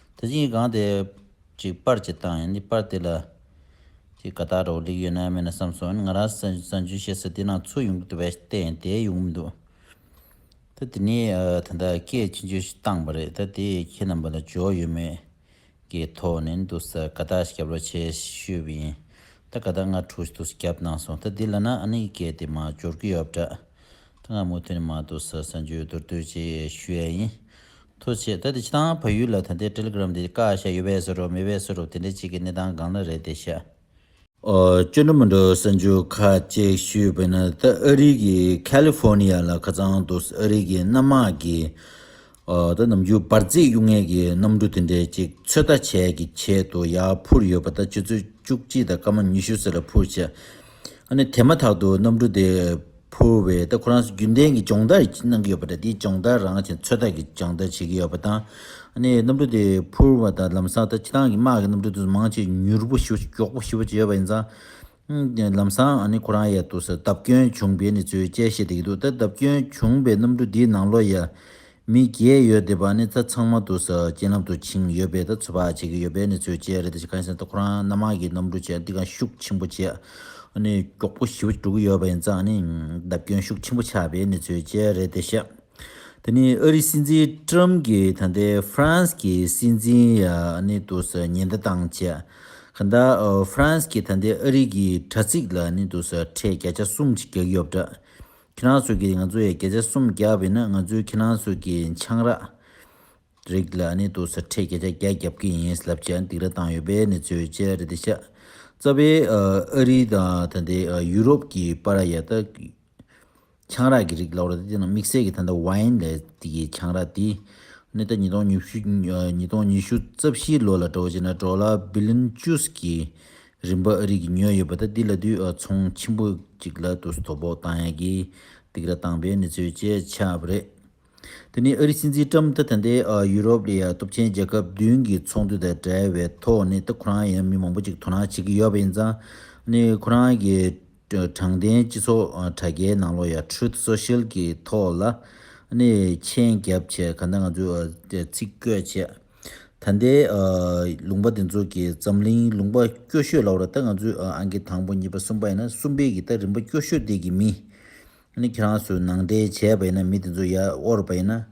དེ་བཞིན་གང་དེ། ཅིག་པར་གྱི་སྟངས་ཡིན་ནི་པར་དེ་ལ། ཅིག་ག་དག་རོ་ལིག་ཡོད་ན་མེད་ན་བསམ་སོང་ཡིན་ང་རང་སང་ཇུས་བྱེད་སའི་དེ་ནང་ཚུགས་ཡོང་གི་འདུག་པས་བལྟས་ཡིན་དེ་ཡོང་གི་འདུག་ད་དེ་ནས་ད་ལྟ་སྐད་ཅིག་མཇུག་ཞིག་བཏང་བ་རེད་ད་དེས་ཁྱེད་རྣམ་པ་ལ་འཇོག་ཡོད་མེད་ཀྱི་ཐོག་ནས་འདུག་ས་ག་དག་ཞིག་བརྒྱབ་རོགས་བྱས་ཞུས་པ་ཡིན་ད་ག་དག་ང་དྲུག་ཞིག་འདུག་ས་བརྒྱབ་གནང་སོང་ད་དེ་ལ་ན་ཨ་ནི་སྐད་དེ་མ་འབྱོར་གི་ཡོད་པ་འདྲ་ད་ང་མུ་མཐུད་ནས་མ་འདུག་ས་སང་ཇུས་མདོར་བསྡུས་ཅིག་ཞུ་ཡས་ཡིན་ཐུགས་ཆེ་ད་དེ་ཅི་དང་བ་ཡུལ་ལ་ད་དེ Telegram དེ་ཀ་ཤ་ཡོད་བས་སུ་རོགས་མེད་བས་སུ་རོགས་དེ་འདྲ་གཅིག་གི་གནས་སྟངས་གང་ན་རེད་དེ་ཤ། ཨོ་སྐྱོ་འགྲོ་མི་འགྲོ་གསར་འགྱུར་ཁ་ཅིག་ཞུས་བས་ན་ད་ཨ་རིག་གི California ལ་ཁ་ཚང་འདུག་ཨ་རིག་གི་གནམ་དམག་གི་ད་ནམ་རྒྱུན་འབར་རྫས་གཡུག་ངེས་ཀྱི་གནམ་གྲུ་དེ་འདྲས་གཅིག་ཚོད་ལྟ་བྱས་ཀྱི་ཆེད་དུ་ཡར་འཕུར་ཡོད་པ་ད་ཆུ་ཚོད་བཅུ་གཅིག་དང་སྐར་མ་ཉི་ཤུ་ཟེར་ལ་འཕུར་ཆེད་ཨ་ནི་དེ་མ་ཐག་ཏུ་གནམ་གྲུ་དེ་ཕུར་བས་ད་ཁོ་རང་ཚོ་རྒྱུན་ལྡན་གྱི་སྦྱོང་བརྡར་གནང་གི་ཡོད་པ་འདྲ་དེའི་སྦྱོང་བརྡར་རང་བཞིན་ཚོད་ལྟ་གི་སྦྱང་བརྡར་བྱེད་ཀྱི་ཡོད་པ་དང། གནས་གནམ་གྲུ་དེ་ཕུར་བ་དང་ལམ་སང་ད་ཁྱེད་རང་གི་དམག་གི་གནམ་གྲུ་དེ་མང་ཆེ་མྱུར་པོ་ཞིག་མགྱོགས་པོ་ཞིག་བྱས་ཡོད་པ་ཡིན་ཙང། ལམ་སང་ཁོ་རང་ཡ་དུ་སར་བརྡབ་སྐྱོན་བྱུང་པའི་གནས་ཚུལ་བཅས་བཤད་བསྡད་ཀྱི་འདུག་ད་བརྡབ་སྐྱོན་བྱུང་པའི་གནམ་གྲུ་དེའི་ནང་ལོ་ཡ། མི་བརྒྱད་ཡོད་དེ་བ་ནི་ད་ཚང་མ་དུ་ས་རྐྱེན་ལམ་དུ་ཕྱིན་ཡོད་པས་ད་ཚོད་དཔག་བྱེད་ཀྱི་ཡོད་པས་ནི་ཚོད་བཅད་རེད་དེ་ཅི་གང་ཡིན་ཟེར་ན་ད་ཁོ་རང་སྣ་མང་གི་གནམ་གྲུ་བཅས་འདི་གང་ཤུགས་ཆེན་པོ་བཅས་ཨ་ནི་མགྱོགས་པོ་བཞི་བཅུ་དྲུག་ཡོད་པ་ཡིན་ཙང་ནི་བརྡབ་སྐྱོན་ཤུགས་ཆེན་པོ་ཆགས་པས་ནི་ཚོད་བཅད་རེད་དེ་བཤད། དེ་ནི་ཨ་རིའི་སྲིད་འཛིན Trump གིས་ད་ལྟའི France གི་སྲིད་འཛིན་ཨ་ནི་དུ་ས་ཉེན་བརྡ་བཏང་རྗེས། གང་ལྟར France གིས་ད་ལྟའི་ཨ་རིའི་གི་དྲ་ཚིགས་ལ་ནི་དུ་ས་ཁྲལ་བརྒྱ་ཆ་གསུམ་གྱི་རྒྱག་ཡོད་པ་འདྲ། ཁྱེད་རང་ཚོ་གིས་ང་ཚོ་ཡ་བརྒྱ་ཆ་སུམ་བརྒྱ་བས་ན་ང་ཚོའི་ཁྱེད་རང་ཚོ་གི་ཆང་རག་རིགས་ལ་ནི་དུ་ས་ཁྲེ་བརྒྱ་ཆ་བརྒྱ་བརྒྱབ་ཀྱི་ཡིན་ལབ་ཅེས་འདིག་ར་བཏང་ཡོད་པའི་ནི་ཚོའི་བཅད་རེད་འདི་ཤ་རྩ་བའི་ཨ་རི་དང་ད་ལྟའི་ཡུ་རོབ་ཀྱི་པ་ར་ཡ་ད་གི་ཆང་རག་གི་རིགས་ལ་བར་ད་དེ་ནང་དམིགས་བསལ་གི་ད་ད Wine ལ་ཏི་གི་ཆང་རག་འདི་ནི་ད་ཉིས་སྟོང་ཉི་ཤུ་ཉིས་སྟོང་ཉི་ཤུ་རྩ་བཞི་ལོ་ལ་འགྲོ་བ་ཅེས་ན་འགྲོ་ལ Billion Juice གི་རིམ་པ་ཨ་རིག་གིས་ཉོས་ཡོད་པ་དང་འདི་ལ་དུས་མཚུངས་ཆེན་པོ་གཅིག་ལ་དུས་སུ་དོ་ཕོག་བཏང་ཡ་གིས་སྡིགས་ར་བཏང་པའི་གནས་ཚུལ་བཅས་ཆགས་རེད། དེ་ནི་ཨ་རིའི་སྲིད་འཛིན་ཀྲམ་ཐ་ཐ་འདས་ཡུ་རོབ་ལི་ཡ་སྟོབས་ཆེན་རྒྱལ་ཁབ་བདུན་གྱི་ཚོགས་འདུ་དང་བྲལ་བའི་ཐོག་ནས་ད་ཁོ་རང་ཡང་མི་མང་པོ་གཅིག་དོ་སྣང་བྱེད་ཀྱི་ཡོད་པ་ཡིན་ཙང་ནི་ཁོ་རང་གི་དྲང་བདེན་སྤྱི་ཚོགས་དྲ་རྒྱའི་ནང་ལོ་ཡ Truth Social གི་ཐོག་ལ་ནི་མཆན་རྒྱབ་བྱས་ག་འདའ་ང་ཚོས་ཚིག་བཀོད་བྱས། ད་ལྟའི་ལུང་པ་འདི་ཚོ་གི་འཛམ་གླིང་ལུང་པ་སྐྱོ་ཤོས་ལ་བར་ད་ང་ཚོའི་ཨང་ཀི་དང་པོ་གཉིས་པ་གསུམ་པ་ཡིན་ན་གསུམ་པའི་གི་ད་རིམ་པ་སྐྱོ་ཤོས་དེ་གི་མི་ཨ་ཁྱེད་རང་ཚོས་ནང་འདྲེན་བྱས་པ་ཡིན་ན་མི་དེ་ཚོ་ཡར་དབོར་བ་ཡིན་ན་ཨ་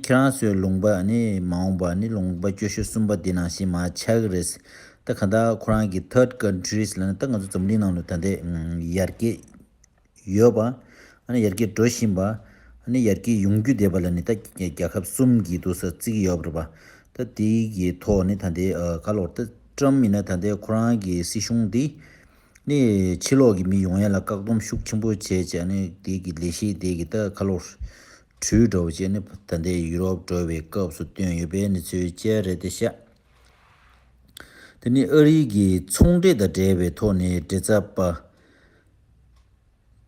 ཁྱེད་རང་ཚོའི་ལུང་པ་མ་འོངས་པ་ལུང་པ་སྐྱོ་ཤོས་གསུམ་པ་དེ་ནང་བཞིན་མ་ཆག་གི་རེད་ད་ག་ད་ཁོ་རང་གི third countries ལ་ད་ང་ཚོ་འཛམ་གླིང་ནང་ལ་ད་ལྟའི་ཡར་རྒྱས། ཡོད་པ། ཡར་རྒྱས་འགྲོ་བཞིན་པ། ཡར་རྒྱས་ཡོང་རྒྱུ་བསྡད་པ་ལ་ནི་ད་རྒྱལ་ཁབ་གསུམ་གྱི་ཏུ་ས་བརྩི་གི་ཡོད་རེད་པ། ད་དེ་གི་ཐོག་ནས་ད་ལྟའི་ག་ལོར་ད་ཀྲམ་ཡིན་ན་ད་ལྟའི་ཁོ་རང་གི་སྲིད་གཞུང་འདི་ནི་ཕྱི་ལོག་གི་མི་ཡོང་ཡ་ལ་བཀག་སྡོམ་ཤུགས་ཆེན་པོ་བྱས་བྱས་ནས་དེ་གི་ལས་གཞི་དེ་གི་ད་ག་ལོར་བྲུས་འགྲོ་བ་བྱས་ནས་ད་ལྟའི་ཡུ་རོབ་འགྲོ་བའི་སྐབས་སུ་བཏོན་ཡོད་པའི་ནི་ཚུལ་བཅས་རེད་ད་ཤ། དེ་ནི་ཨ་རིའི་གིས་ཚོང་འབྲེལ་དང་འབྲེལ་བའི་ཐོག་ནས་འབྲེལ་ཚབ་པ།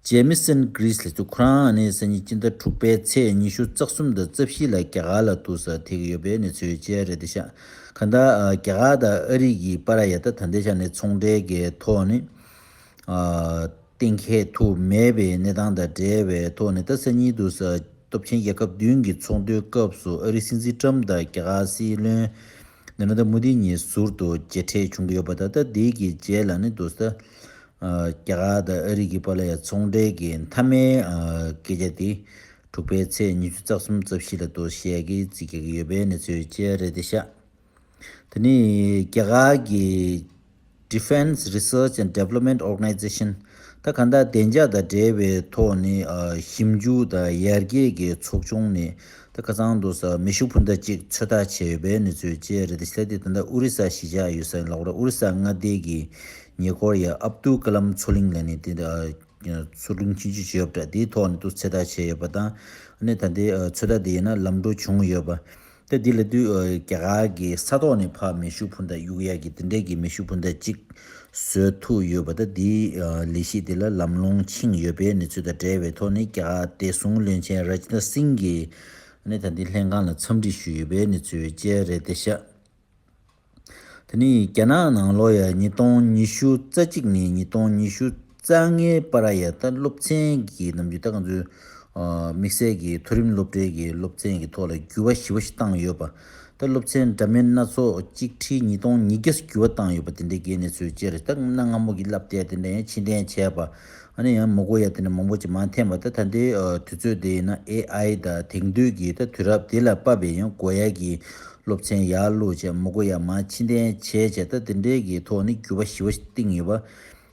ཇེ་མི་སན Greece ལས་ཚུགས་ཁོ་རང་ནི་སང་ཉིན་སྤྱི་ཟླ་དྲུག་པའི་ཚེས་ཉི་ཤུ་རྩ་གསུམ་དང་རྩ་བཞི་ལ་རྒྱ་གར་ལ་ཏུ་སར་ཐེག་གི་ཡོད་པའི་གནས་ཚུལ་བཅས་རེད་འདི་ཤག་ག་ད་རྒྱ་གར་དང་ཨ་རིའི་གིས་པ་ར་ཡ་ད་ཐ་འདི་ཤག་ནི་ཚོང་འབྲེལ་གི་ཐོག་ནས་གཏན་འཁེལ་དུ་མེད་པའི་གནས་སྟངས་དང་འབྲེལ་བའི་ཐོག་ནས་ཏཱ་སི་ཉིད་དུ། སྟོབས་ཆེན་རྒྱལ་ཁབ་བདུན་གྱི་ཚོགས་འདུའི་སྐབས་སུ་ཨ་རིའི་སྲིད་འཛིན་ཀྲམ་དང་རྒྱ་གར་སྲིད་བློན་ནེ་རན་དཱ་མུ་དྷི་གཉིས་ཟུར་དུ་མཇལ་འཕྲད་བྱུང་གི་ཡོད་པ་ད་ལྟ་དེའི་གི་རྗེས་ལ་ནི་དུ། རྒྱ་གར་དང་ཨ་རི་གི་བར་ལ་ཡང་ཚོང་འབྲེལ་གྱི་མཐའ་མའི་སྐད་ཆ་དེ། དྲུག་པའི་ཚེས་ཉི་ཤུ་རྩ་གསུམ་རྩ་བཞི་ལ་དུ་བཤད་ཀྱིས་རྩིས་རྒྱག་གི་ཡོད་པའི་གནས་ཚུལ་བཅས་རེད་དེ་ཤག། དེ་ནི་རྒྱ་གར་གྱི Defence Research and Development Organization། ད་ག་ནྡ་བདེ་འཇགས་དང་འབྲེལ་བའི་ཐོག་ནས་ཞིབ་འཇུག་དང་ཡར་རྒྱས་ཀྱི་ཚོགས་ཆུང་ནས་ད་ག་ཚང་དུ་མེ་ཤུགས་འཕུར་མདའ་གཅིག་ཚོད་ལྟ་བྱས་ཡོད་པའི་གནས་ཚུལ་བཅས་རེད་དེ་ཆད་དེ་ད་ནྡ་ཨོ་རི་ས་གཞིས་ཆགས་ཡོད་ས་ཡིན་ལ་འོ་ར་ཨོ་རི་ས་མངའ་སྡེ་གྱི་ཉེ་སྐོར་ཡ་ཨབ་ཏུའུ་ཀ་ལམ་མཚོ་གླིང་ལ་ནི་དེ་མཚོ་གླིང་ཕྱིན་ཅི་བྱེད་ཡོད་པ་འདྲ་དེའི་ཐོག་ནས་ཏུ་ཚད་ལྟ་བྱས་ཡོད་པ་དང་ད་ནྡའི་ཚོད་ལྟ་དེ་ཡིན་ན་ལམ་འགྲོ་བྱུང་ཡོད་པ་ད་འདི་ལ་བསྡུས། རྒྱ་གར་གྱི་ས་ཐོག་ནས་ཕ་མེ་ཤུ་བྷུ་འདྷ་གཡུག་ཡ་གི་དེ་འདྲས་ཀྱི་མེ་ཤུ་བྷུ་འདྷ་གཅིག་བཟོས་ཐུག་ཡོད་པ་དང་དེའི་ལས་གཞི་དེ་ལ་ལམ་ལྷོང་ཕྱིན་ཡོད་པའི་གནས་ཚུལ་དང་འབྲེལ་བའི་ཐོག་ནས་རྒྱ་གར་བདེ་སྲུང་བློན་ཆེན Rajnath Singh གྱིས་ད་འདི་ལྷན་ཁང་ལ་འཚམས་འདྲི་ཞུས་ཡོད་པའི་གནས་ཚུལ་བཅས་རེད་དེ་ཤག་དེ་ནི་རྒྱ་ནག་ནང་ལོ་ཡ་ཉིས་སྟོང་ཉི་ཤུ་རྩ་གཅིག་ནས་ཉིས་སྟོང་ཉི་ཤུ་རྩ་ལྔའི་བར་ར་ཡ་ཏཱ་སློབ་ཚན་གྱི་ནང་རྒྱུད་ད་ག་ཚོད་དམིགས་བསལ་གྱི་མཐོ་རིམ་སློབ་གྲྭའི་གྱི་སློབ་ཚན་གྱི་ཐོག་ལ་འགྱུར་བ་ཞི་བ་ཞིག་བཏང་ཡོད་པ། ད་སློབ་ཚན་འདྲ་མིན་སྣ་ཚོགས་གཅིག་ཁྲིའི་ཉིས་སྟོང་ཉིས་བརྒྱ་སུ་འགྱུར་བ་བཏང་ཡོད་པ་དེ་འདྲའི་གྱི་གནས་ཚུལ་བཅས་རེད་ད་གནའ་སྔ་མོ་གྱི་བསླབ་དེབ་དེ་འདྲ་ཡང་ཕྱིར་འཐེན་བྱས་པ། ཨ་ནི་ཡང་མུ་གོ་ཡ་དེ་ནས་མང་པོ་ཅིག་མ་འཐེན་པ་ད་ད་འདི་དུས་ཚོད་དེ་ཡིན་ན AI ད་དེང་དུས་ཀྱི་ད་དུས་རབས་དེ་ལ་དཔའ་བའི་ཡང་གོ་ཡ་གི་སློབ་ཚན་ཡག་ལུགས་བྱས་མུ་གོ་ཡ་མ་ཕྱི་འཐེན་བྱས་བྱས་ད་དེ་འདྲའི་གི་ཐོག་ནི་འགྱུར་བ་ཞི་བ་གཏིང་ཡོད་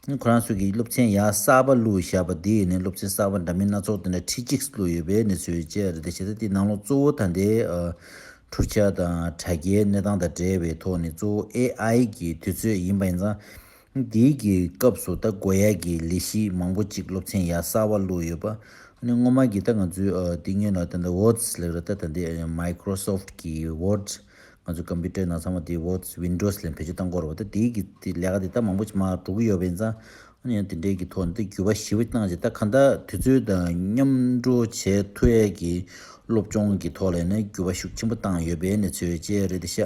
པ། ཁོ་རང་ཚོ་གི་སློབ་ཚན་ཡག་གསར་པ་ལུགས་བཞག་པ་འདི་ཡིན་ནས་སློབ་ཚན་གསར་པ་འདྲ་མིན་སྣ་ཚོགས་དེ་འདྲ་ཁྲི་གཅིག་ལུགས་ཡོད་པའི་གནས་ཚུལ་བཅས་རེད་ད་བྱས་ད་འདི་ནང་ལོག་གཙོ་བོ་ད་འདི་འཁྲུག་ཆ་དང་དྲ་རྒྱའི་གནས་སྟངས་དང་བྲལ་བའི་ཐོག་ནི་གཙོ་བོ AI གི་དུས་ཚོད་ཡིན་པ་ཡིན་ཙང། འདི་གི་སྐབས་སུ་ད་སྒོ་ཡག་གི་ལས་གཞི་མང་པོ་ཅིག་སློབ་ཚན་ཡག་གསར་བ་བླུགས་ཡོད་པ་ཨ་ནི་སྔོན་མ་གི་ད་ང་ཚོའི་དེ་སྙོན་ལ་ད་ད Word ལེགས་ར་ད་ད་འདི Microsoft གི Word ང་ཚོའི Computer ནང་ཚང་མ་དེ Word Windows ལས་བེད་སྤྱོད་བཏང་གོ་ར་བ་ད་དེ་གི་དེ་ལས་ཀ་དེ་ད་མང་པོ་ཅིག་མ་འགྲོ་གི་ཡོད་པ་ཡིན་ཙང་ཨ་ནི་ཡང་དེ་འདྲའི་གི་ཐོག་ནས་ད་འགྱུར་བ་ཞིབ་བ་གནང་ཅིག་ད་གང་ད་དུས་ཚོད་དང་མཉམ་འགྲོ་བྱས་ཐུ་ཡག་གི་སློབ་སྦྱོང་གི་ཐོག་ལས་ནས་འགྱུར་བ་ཤུགས་ཆེན་པོ་བཏང་ཡོད་པའི་གནས་ཚུལ་བཅས་རེད་དེ་ཤ་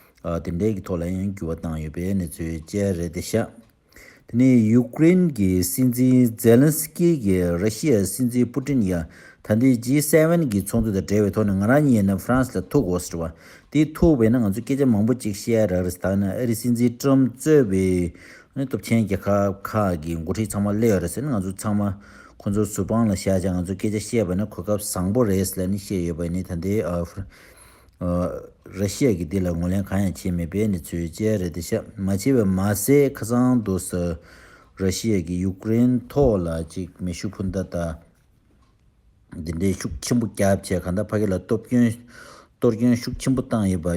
དེ་འབྲེལ་གྱི་ཐོག་ལ་ཡང་འགྱུར་བ་བཏང་ཡོད་པའི་གནས་ཚུལ་བཅས་རེད་དེ། ཤ་དེ་ནས་ཡུག་ཀེ་རེན་གྱི་སྲིད་འཛིན་ཛེ་ལན་སི་ཀི་གིས་ར་ཤི་ཡའི་སྲིད་འཛིན་པུ་ཏིན་ཡང་ད་ལྟའི་ཇི་སེ་བན་གྱི་ཚོགས་འདུ་དང་འབྲེལ་བའི་ཐོག་ནས་ང་རང་ཉིད་ནི་ཧྥ་རན་སི་ལ་ཐུག་གོ་ཟེར་བ། དེ་ཐུག་བས་ན་ང་ཚོས་སྐད་ཆ་མང་པོ་གཅིག་བཤད་ཡ་རག་རེད་ད་ནི་ཨ་རིའི་སྲིད་འཛིན་ཀྲོམ་གཙོས་པའི་སྟོབས་ཆེན་རྒྱལ་ཁབ་ཁག་གི་མགོ་ཁྲིད་ཚང་མ་སླེ་ཡོད་རེད་ཟེར་ན་ང་ཚོ་ཚང་མ་ཁོ་ཚོར་ཟུར་དཔང་ལ་བཞག་ཅིང་ང་ཚོས་སྐད་ཆ་བཤད་པ་ནི་གོ་སྐབས་བཟང་པོ་རེད་ཟེར་ལ་ནི་བཤད་ཡོད་པ་ནི་ད་ལྟའི་ཧྥ་ར་ཤི་ཡ་གིས་འདི་ལ་ངོས་ལེན་གང་ཡང་བྱས་མེད་པའི་ནི་ཚོད་དཔྱད་རེད་དེ་ཤ་མ་བྱེད་པ་མ་ཟད་ཁ་སང་དུ་ས་ར་ཤི་ཡ་གིས་ཡུཀ་རེན་ཐོག་ལ་ཅིག་མེ་ཤུགས་འཕུར་མདའ་དང་འདི་འདྲའི་ཤུགས་ཆེན་པོ་བརྒྱབ་བྱས་གང་ལྟར་ཕ་གི་ལ་སྟོབས་སྐྱོན་གཏོར་སྐྱོན་ཤུགས་ཆེན་པོ་བཏང་ཡོད་པ་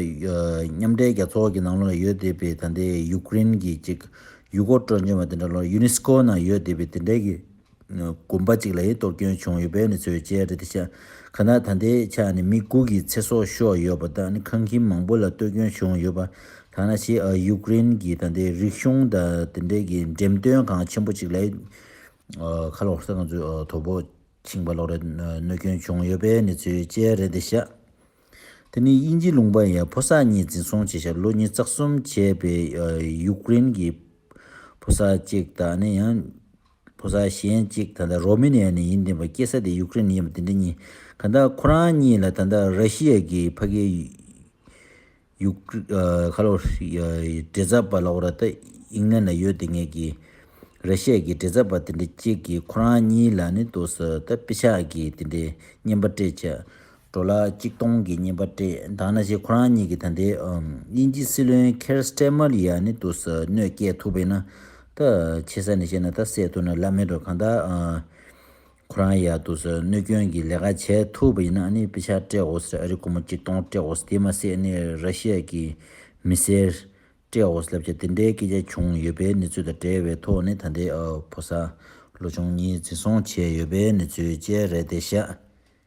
མཉམ་འབྲེལ་རྒྱལ་ཚོགས་ཀྱི་ནང་ལོགས་ལ་ཡོད་བསྡད་པའི་ད་ལྟའི་ཡུཀ་རེན་གྱི་ཅིག་ཡུལ་སྐོར་སྤྲོ་འཆམ་བ་དེ་འདྲ་ལོགས་ཡུ་ནི་སི་ཀོ་ནང་ཡོད་བསྡད་པའི་དེ་འདྲའི་གི་དགོན་པ་གཅིག་ལ་ཡིད་རྟོག་སྐྱོན་བྱུང་ཡོད་པའི་ནི་ཚོས་བཅད་རེད་དེ་ཆ་ག་ན་ད་འདི་ཆ་ནི་མི་དགུ་གི་ཚེ་སྲོག་ཤོར་ཡོད་པ་དང་ནི་ཁང་ཁྱིམ་མང་པོ་ལ་སྟོད་སྐྱོན་བྱུང་ཡོད་པ་དང་ན་ཆེ་ཡུ་ཀེ་རེན་གྱི་ད་འདི་རིག་གཞུང་ད་དེ་འདྲས་ཀྱི་འགྲེམས་སྟོན་ཁང་ཆེན་པོ་གཅིག་ལ་ཡིད་ཁ་ལོག་ས་ག་ཚོད་དོ་པོ་ཕྱིང་པ་ལོག་རེད་གནོད་སྐྱོན་བྱུང་ཡོད་པའི་ནི་ཚོས་བཅད་རེད་དེ་ཆ་དེ་ནི་དབྱིན་ཇི་ལུང་པ་ཡ་ཕོ་སར་གཉིས་འཛིན་བཟུང་བྱས་ཤག་ལོ་གཉིས་རྩ་གསུམ་བྱས་པའི་ཡུ་ཀེ་རེན་གྱི་ཕོ་སར་གཅིག་ད་ནི་ཡང། ཕོ་གསར་གཞན་གཅིག་ད་ལྟ་རོ་མེ་ནི་ཡ་ནས་ཡིན་བསྡད་པ་སྐྱེས་ས་དེ་ཡུག་ཀེ་རེན་ཡིན་པ་དེ་འདྲ་གཉིས་ག་འདྲ་ཁོ་རང་གཉིས་ལ་ད་ལྟ་ར་ཤི་ཡ་གི་ཕ་གི་ཡུག་ཁ་ལོ་བྲེ་ཚབ་པ་ལ་ཨོ་ར་ཏ་ཨིང་ལན་ལ་ཡོད་དེ་ངས་གི་ར་ཤི་ཡ་གི་བྲེ་ཚབ་པ་དེ་འདྲ་གཅིག་གིས་ཁོ་རང་གཉིས་ལ་ནི་དུ་ས་ད་པི་ཆག་གིས་དེ་འདྲའི་སྙན་པ་སྤྲད་ཆ་འགྲོ་ལ་གཅིག་སྟོང་གི་སྙིམ་པ་སྤྲད་འདང་ན་ཞེས་ཁོ་རང་གཉིས་ཀྱིས་ད་ལྟའི་དབྱིན་ཇིའི་སྲིད་བློན་ཁེར་སྟེར་མར་ཡ་ནི་ཏུ་ཟ་གནོད་བསྐྱལ་ཐུབ་པས་ན་ད་ཆེ་ས་ནས་བཤད་ན་ད་བསད་ཐུབ་ན་ལབ་མེད་འགྲོ་གང་ལྟར་ཁོ་རང་ཡ་ཏུ་ཟ་གནོད་སྐྱོན་གྱི་ལས་ཀ་བྱས་ཐུབ་པ་ཡིན་ན་ནི་དཔེ་ཆ་སྤྲད་འོ་ཟེར་ཨ་རི་ཀོ་མོ་གཅིག་སྟོང་སྤྲད་འོ་ཟེར་དེ་མ་བསད་ནི་ར་ཤི་ཡ་གི་མི་སེར་སྤྲད་འོ་ཟེར་ལབ་བྱ་དེ་འདྲའི་སྐད་ཆ་བྱུང་ཡོད་པའི་གནས་ཚུལ་དང་འབྲེལ་བའི་ཐོག་ནས་ད་ལྟའི་ཕོ་གསར་ལོ་ཆུང་གཉིས་འཛིན་བཟུང་བྱས་ཡོད་པའི་གནས་ཚུལ་བཅས་རེད་དེ་ཤ་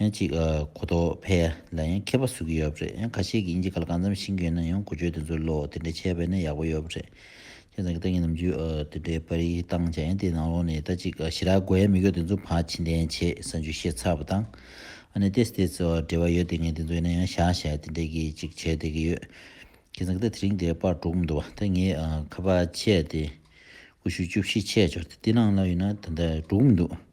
ཡང་གཅིག་གོ་རྟོགས་འཕེལ་ལ་ཡང་མཁས་པ་བཟོ་གི་ཡོད་རེད་ཡང་ཁ་ཤས་ཀྱིས་ཨིན་ཇི་ག་ལ་གང་འཚམ་ཤེས་མཁན་ཡང་གོ་ཆོད་དེ་ཚོ་ལོ་དེ་འདྲ་བྱས་པས་ན་ཡག་པོ་ཡོད་རེད་ཁྱེད་རང་གི་ཏང་གི་ནམ་རྒྱུན་དེ་འདྲའི་པར་རིས་བཏང་བྱས་ཡང་དེ་ནང་ལོགས་ནས་ད་གཅིག་ཞི་རགས་དགོས་ཡ་མི་དགོས་དེ་ཚོ་བ་ཕྱི་འཐེན་བྱེད་ས་འཇུ་ཤེས་ཚར་བ་དང་ཨ་ནེ་ཏེས་ཏེས་འབྲེལ་བ་ཡོད་དེ་ངས་དེ་ཚོ་ཡིན་ན་ཡང་བཞག་བཞག་དེ་འདྲས་ཀྱིས་གཅིག་བྱས་བསྡད་ཀྱི་ཡོད་ཁྱེད་རང་གི་ད་དེ་རིང་དེ་པར་སྒྲོག་གི་འདུག་བ་ད་ངས་ཁ་པར་བྱས་ཏེ་ཀུ་ཤུ་བཅུ་བཞི་ཆད་འཇོག་དེ་དེ་ནང་ལོགས་ཡིན་ན་ད་ལྟ་སྒྲོག་གི་མི་འདུག།